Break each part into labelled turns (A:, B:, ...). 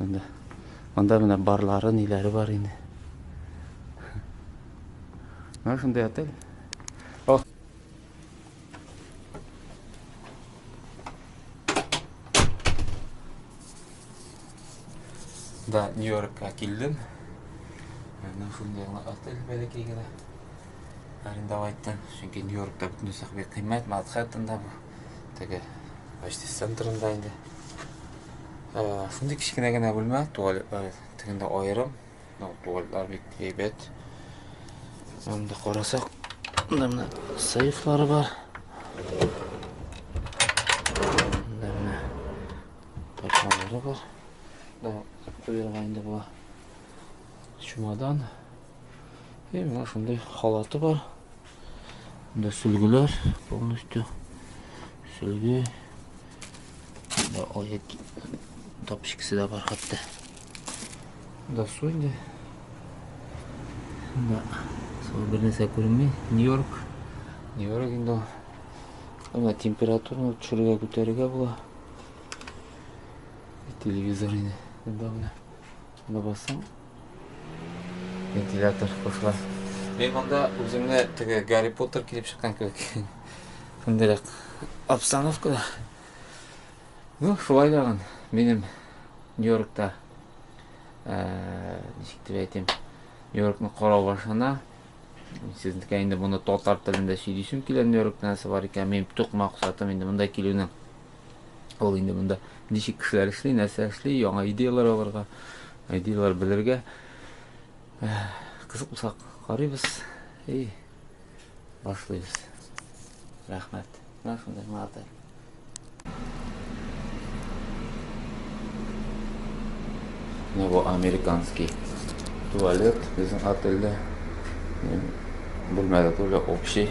A: Анда, анда менә барлары, ниләре бар инде. Менә шундый отель. О. Да, Нью-Йоркка килдем. Менә шундый гына отель бәләкәй генә. Арендовать иттем, чөнки Нью-Йоркта бөтен нәрсә кыйммәт, Манхэттенда бу. Теге почти центрында инде. Шундый кечкенә генә бүлмә, туалетлар тегендә аерым. Ну, туалетлар бик әйбәт. Анда карасак, мында менә сейфлары бар. Мында менә ташламалары бар. Да, куярга инде була. Чемодан. И менә шундый халаты бар. Монда сөлгеләр полностью. Сөлге. Монда аяк тапчикасы да бар хәтта. Монда су инде. Монда су бернәрсә күренми. Нью-Йорк. Нью-Йорк инде. Ана температураны төшерергә күтәрергә була. Телевизор инде. Монда менә. Шунда басам, вентилятор кушыла. Мин монда үземне теге Гарри Поттер килеп чыккан кебек. Шундыйрак обстановкада. Ну, шулай дагын минем Нью-Йоркта э, ничек дип әйтим, Нью-Йоркны карау башына сезнекә инде моны татар телендә сөйлисем килә Нью-Йорктан сабар икән, минем төп максатым инде монда килүнең. Ул инде монда ничек кешеләр эшли, нәрсә эшли, яңа идеяләр алырга, идеяләр белергә. Кызык булса карыйбыз и башлыйбыз. Рәхмәт. Менә шундый мата. Менә бу американский туалет безнең отельдә. Бүлмәдә түле общий.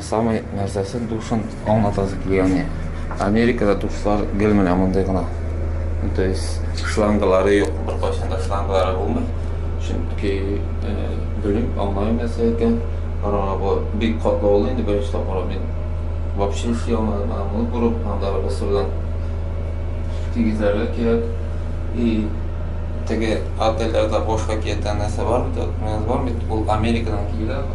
A: Самый нәрсәсе душын аңлатасы килгәне. Америкада душлар гел менә мондый гына. То есть шлангалары юк, бер кайчан да шлангалары булмый. Чөнки э, белмим, аңламыйм нәрсә икән. Караңгы бу бик катлаулы инде беренче тапкыр мин вообще эшли алмадым. Ана моны күреп, анда ысырдан тигезләргә кирәк. И теге отельләрдә башка киятән нәрсә бар бит, менә бар бит, ул Америкадан килгән.